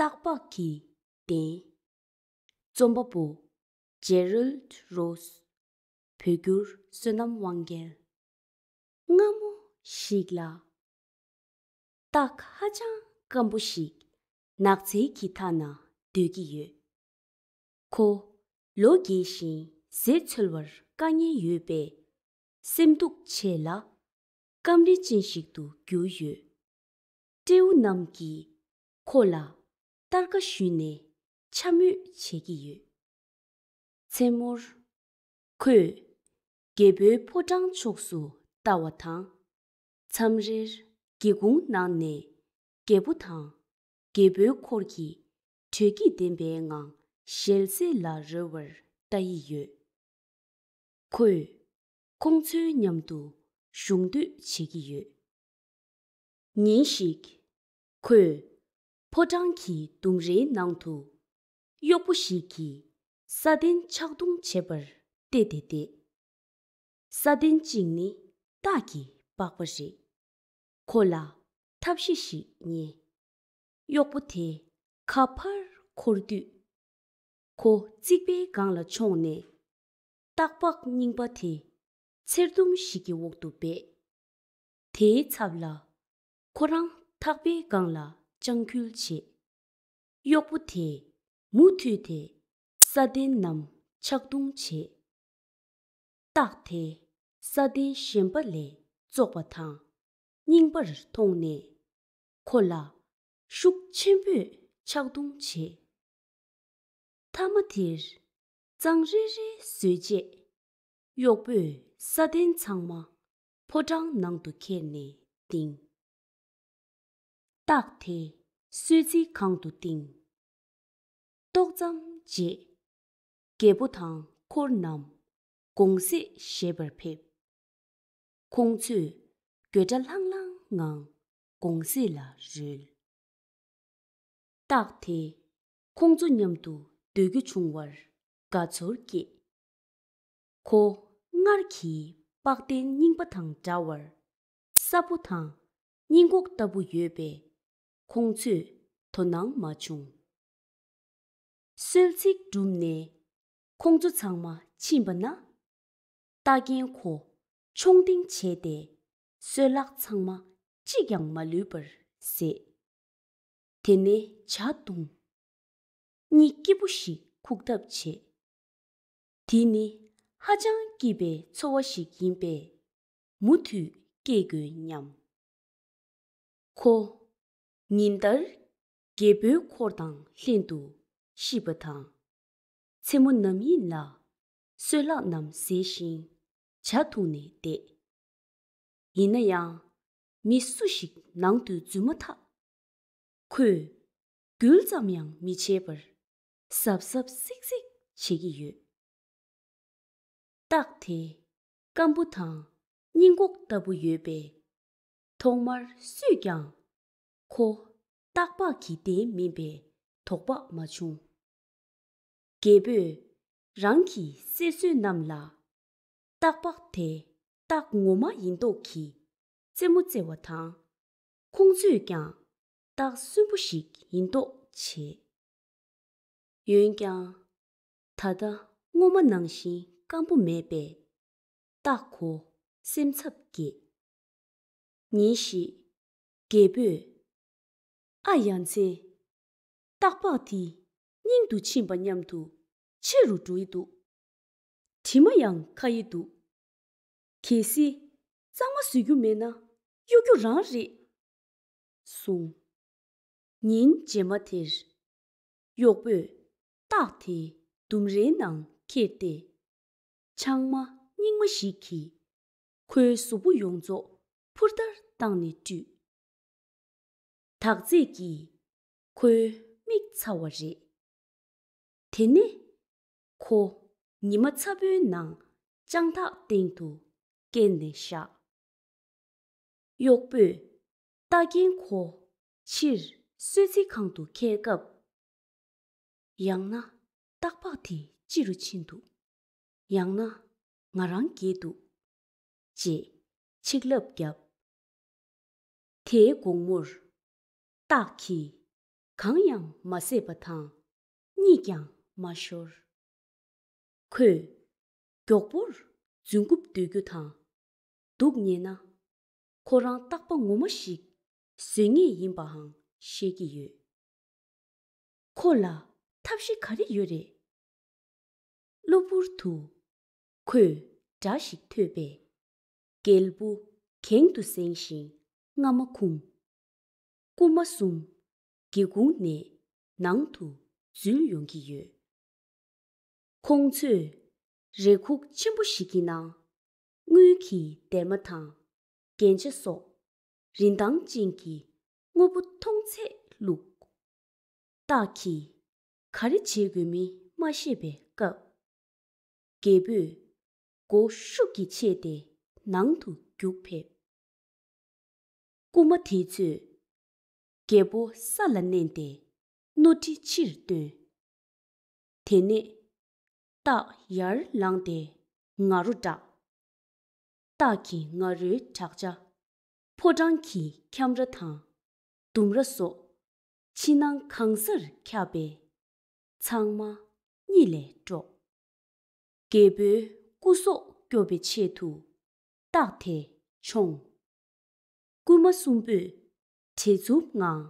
སྟག་ལྤགས་ཀྱི་གདན། རྩོམ་པ་པོ། Gerald Rose། བོད་བསྒྱུར་བསོད་ནམས་དབང་རྒྱལ། སྔ་མོ་ཞིག་ལ། སྟག་ཧ་ཅང་སྐམ་པོ་ཞིག་ནགས་ཚལ་གྱི་མཐའ་ན་སྡོད་ཀྱི་ཡོད། ཁོ། ལོ་རྒས་བཞིན་ཟས་འཚོལ་བར་དཀའ་ངལ་ཡོད་པས། སེམས་སྡུག་ཆེ་ལ། སྐམ་རིལ་ཅན་ཞིག་ཏུ་གྱུར་ཡོད། སྤྲེའུ་རྣམས་ཀྱིས་ཁོ་ལ་སྟར་ཀ་ཞུས་ནས་འཕྱ་སྨོད་བྱེད་ཀྱི་ཡོད། མཚན་མོར། ཁོས་རྒད་པོའི་ཕོ་བྲང་ཕྱོགས་སུ་ལྟ་བ་དང། མཚམས་རེར་སྒེའུ་ཁུང་ནང་ནས་རྒད་པོ་དང་རྒད་པོའི་འཁོར་གྱིས་དྲོད་སྐྱིད་ལྡན་པའི་ངང་ཞལ་ཟས་ལ་རོལ་བར་ལྟ་ཡི་ཡོད། ཁོས་ཁོང་ཚོའི་མཉམ་དུ་གཞུང་སྡོད་བྱེད་ཀྱི་ཡོད། ཉིན་ཞིག། ཁོས་ཕོ་བྲང་གི་ལྡུམ་རའི་ནང་དུ་གཡོག་པོ་ཞིག་གིས་ས་གདན་ཕྱག་རྡུང་བྱེད་པར་བལྟས་ཏེ་བསྡད། ས་གདན་གཅིག་ནི་སྟག་གི་པགས་པ་རེད། ཁོ་ལ་ཐབས་ཤེས་ཤིག་རྙེད། གཡོག་པོ་དེ་ཁ་ཕར་འཁོར་དུས། ཁོ་རྩིག་པའི་སྒང་ལ་མཆོངས་ནས། སྟག་ལྤགས་རྙིང་པ་དེ། ཚེར་དུམ་ཞིག་གི་འོག་ཏུ་སྦས། དེའི་ཚབ་ལ། ཁོ་རང་ཐག་པའི་སྒང་ལ་དཔྱང་ཁྱུལ་བྱེད། གཡོག་པོ་དེས་མུ་མཐུད་དེ་ས་གདན་རྣམས་ཕྱག་རྡུང་བྱེད། སྟག་དེ་ས་གདན་གཞན་པ་ལས་བཙོག་པ་དང་རྙིང་པར་མཐོང་ནས། ཁོ་ལ་ཤུགས་ཆེན་པོས་ཕྱག་རྡུང་བྱེད། མཐའ་མ་དེར། གཙང་རེ་རེ་བཟོས་རྗེས། གཡོག་པོས་ས་གདན་ཚང་མ་ཕོ་བྲང་ནང་དུ་ཁྱེར་ནས་བཏིང། རྟགས་དེ་གསོལ་ཚིགས་གང་དུ་བཏིང། ཏོག་ཙམ་རྗེས། རྒྱལ་པོ་དང་འཁོར་རྣམས་དགོང་ཟས་བཞེས་པར་ཕེབས། ཁོང་ཚོས་འགྱོད་སྒྲ་ལྷང་ལྷང་ངང་དགོང་ཟས་ལ་རོལ། རྟགས་དེ་ཁོང་ཚོ་མཉམ་དུ་སྡོད་རྒྱུ་བྱུང་བར་དགའ་ཚོར་སྐྱེས། ཁོ་སྔར་གྱི་པགས་གདན་རྙིང་པ་དང་འདྲ་བར་སྲབ་པོ་དང་སྙིང་གོག་ལྟ་བུ་ཡོད་པས་ཁོང་ཚོས་དོ་སྣང་མ་བྱུང། གསོལ་ཚིགས་གྲུབ་ནས་ཁོང་ཚོ་ཚང་མ་ཕྱིན་པ་ན། རྟ་རྒན་ཁོ་མཆོང་ལྡིང་བྱས་ཏེ་སོལ་ལག་ཚང་མ་གཅིག་ཀྱང་མ་ལུས་པར་བཟས། དེ་ནས་བྱ་བཏུང་གཉིས་སྐྱིད་པོ་ཞིག་ཁུག་ཐབས་བྱེད། དེ་ནི་ཧ་ཅང་སྐྱིད་པའི་འཚོ་བ་ཞིག་ཡིན་པས་མུ་མཐུད་སྐྱེལ་དགོས་སྙམ། ཁོ། ཉིན་ལྟར་རྒད་པོའི་འཁོར་དང་ལྷན་དུ་ཤི་བ་དང། མཚན་མོ་ནམ་ཡིན་ལ་སོལ་ལག་རྣམས་ཟས་ཤིང་བྱ་འཐུང་ནས་བསྡད། ཡིན་ན་ཡང་མི་སུ་ཞིག་ནང་དུ་འཛུལ་མ་ཐག་ཁོས་འགུལ་ཙམ་ཡང་མི་བྱེད་པར་ཟབ་ཟབ་གཟིགས་གཟིགས་བྱེད་ཀྱི་ཡོད། རྟགས་དེ་སྐམ་པོ་དང་སྙིང་གོག་ལྟ་བུ་ཡོད་པས། ཐོག་མར་སུས་ཀྱང་ཁོ་སྟག་ལྤགས་ཀྱི་གདན་མིན་པའི་དོགས་པ་མ་བྱུང། རྒད་པོས་རང་གི་སྲས་བསོད་ནམས་ལ་སྟག་ལྤགས་དེ་སྟག་ངོ་མ་ཡིན་མདོག་གིས་རྩེད་མོ་རྩེ་བ་དང། ཁོང་ཚོས་ཀྱང་རྟགས་གསོན་པོ་ཞིག་ཡིན་མདོག་བྱེད། འོན་ཀྱང། ད་ལྟ་སྔོན་མ་ནང་བཞིན་སྐམ་པོ་མེད་པས། རྟགས་གོ་སེམས་འཚབ་སྐྱེས། ཉིན་ཞིག། རྒད་པོས། ཨ་ཡ་མཚན། སྟག་ལྤགས་དེ་སྙིང་དུ་ཕྱིན་པ་སྙམ་དུ་ཆེ་རུ་འགྲོ་ཡི་འདུག། དྲི་མ་ཡང་ཁ་ཡི་འདུག། གལ་སྲིད། གཙང་མ་བཟོས་རྒྱུ་མེད་ན་གཡོ་རྒྱུ་རང་རེད། གསུངས། ཉིན་རྗེས་མ་དེར། གཡོག་པོས། སྟག་དེ་ལྡུམ་རའི་ནང་འཁྱེར་ཏེ། ཆང་མ་རྙིང་མ་ཞིག་གིས། ཁོའི་གཟུགས་པོ་ཡོངས་རྫོགས་ཕུར་ལྟར་བཏང་ནས་བཀྲུས། དག་རྫས་ཀྱིས་ཁོའི་མིག་ཚ་བ་རེད། དེ་ནས། ཁོ། ཉི་མ་ཚ་བོའི་ནང་དཔྱང་ཐག་སྟེང་དུ་བཀལ་ནས་བཞག། གཡོག་པོས་རྟ་རྒན་ཁོ་ཕྱིར་གསོད་རྩིས་ཁང་དུ་འཁྱེར་སྐབས། ཡང་ན་སྟག་ལྤགས་དེ་ཅི་རུ་ཕྱིན་འདུག་ཡང་ན་ང་རང་འགྱེལ་འདུག་ཅེས་ཆིག་ལབ་བརྒྱབ། དེའི་དགོང་མོར། སྟག་གིས་གང་ཡང་མ་བཟས་པ་དང། གཉིད་ཀྱང་མ་ཤོར། ཁོས། མགྱོགས་པོར་རྫུན་རྐུབ་བརྡོལ་རྒྱུ་དང། སྡུག་ཉེས་ན། ཁོ་རང་རྟག་པ་ངོ་མ་ཞིག་བཟོས་ངེས་ཡིན་པའང་ཤེས་ཀྱི་ཡོད། ཁོ་ལ་ཐབས་ཤེས་ག་རེ་ཡོད་རེད། གློ་བུར་དུ། ཁོས་སྒྲ་ཞིག་ཐོས་པས། རྒྱལ་བུ་གྱེང་དུ་བསྲིངས་ཤིང་རྔ་མ་ཁུང། རྐུ་མ་གསུམ། སྒེའུ་ཁུང་ནས་ནང་དུ་འཛུལ་ཡོང་གི་ཡོད། ཁོང་ཚོས་རེ་ཁུག་ཆེན་པོ་ཞིག་གི་ནང་དངུལ་གྱི་སྡེར་མ་དང་རྒྱན་ཆ་སོགས་རིན་ཐང་ཅན་གྱི་དངོས་པོ་མཐོང་ཚད་བླུགས། བདག་གིས་ག་རེ་བྱེད་དགོས་མིན་མ་ཤེས་པའི་སྐབས། རྒད་པོས་སྒོ་ཤུགས་ཀྱིས་ཕྱེས་ཏེ་ནང་དུ་རྒྱུག་ཕེབས། རྐུན་མ་དེ་ཚོས་རྒྱལ་པོ་ས་ལ་མནན་ཏེ་རྣོ་དྲི་ཕྱིར་བཏོན། དེ་ནས་སྟག་ཡར་ལངས་ཏེ་ང་རོ་བསྒྲགས། སྟག་གི་ང་རོའི་བྲག་ཆ་ཕོ་བྲང་གི་ཁྱམས་ར་དང་ལྡུམ་ར་སོགས་ཕྱི་ནང་གང་སར་ཁྱབ་པས་ཚང་མ་གཉིད་ལས་དཀྲོགས། རྒྱལ་པོའི་སྐུ་སྲོག་སྐྱོབ་པའི་ཆེད་དུ་སྟག་དེ་མཆོངས། རྐུན་མ་གསུམ་པོས་བྲེལ་འཚུབ་ངང།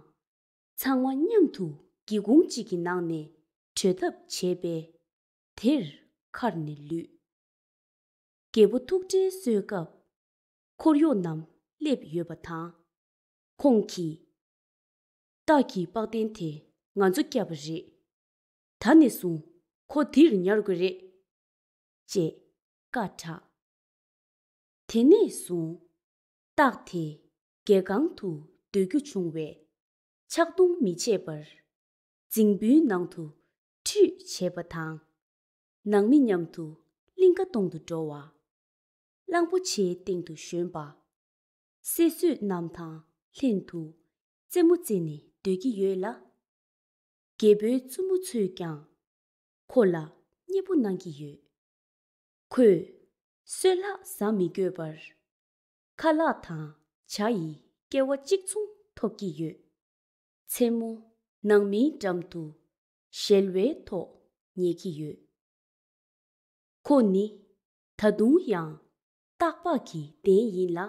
ཚང་མ་མཉམ་དུ་སྒེའུ་ཁུང་གཅིག་གི་ནང་ནས་བྲོས་ཐབས་བྱས་པས། དེར་མཁར་ནས་ལུས། རྒད་པོ་ཐུགས་ཁྲལ་གསོལ་སྐབས། འཁོར་གཡོག་རྣམས་སླེབས་ཡོད་པ་དང། ཁོང་གིས། སྟག་གི་པགས་གདན་དེ་ང་ཚོ་བསྐྱབས་པ་རེད། ད་ནས་བཟུང་ཁོ་འདིར་ཉར་དགོས་རེད། ཅེས་བཀའ་བསྒྲགས། དེ་ནས་བཟུང། སྟག་དེས་གལ་གང་དུ་འདོད་རྒྱུ་འབྱུང་བས། ཕྱག་རྡུང་མི་བྱེད་པར། རྫིང་བུའི་ནང་དུ་ཁྲུས་བྱེད་པ་དང། ནང་མི་མཉམ་དུ་གླིང་ཁ་སྟོང་དུ་འགྲོ་བ། གླང་པོ་ཆེའི་སྟེང་དུ་ཞོན་པ། སྲས་བསོད་ནམས་དང་ལྷན་དུ་རྩེད་མོ་རྩེ་ནས་སྡོད་ཀྱི་ཡོད་ལ། རྒྱལ་པོའི་བཙུན་མོ་ཚོས་ཀྱང་ཁོ་ལ་མཉེས་པོ་གནང་གི་ཡོད། ཁོས་སྲོད་ལྷག་བཟའ་མི་དགོས་པར། ཁ་ལག་དང་བྱ་ཡི་སྐལ་བ་གཅིག་མཚུངས་ཐོབ་ཀྱི་ཡོད། མཚན་མོ་ནང་མིའི་འགྲམ་དུ་ཞལ་བའི་ཐོག་ཉལ་གྱི་ཡོད། ཁོ་ནི་ད་དུང་ཡང་སྟག་ལྤགས་ཀྱི་གདན་ཡིན་ལ།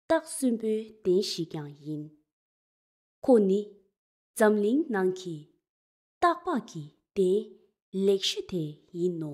སྟག་གསོན་པོའི་གདན་ཞིག་ཀྱང་ཡིན། ཁོ་ནི་འཛམ་གླིང་ནང་གི་སྟག་ལྤགས་ཀྱི་གདན་ལེགས་ཤོས་དེ་ཡིན་ནོ།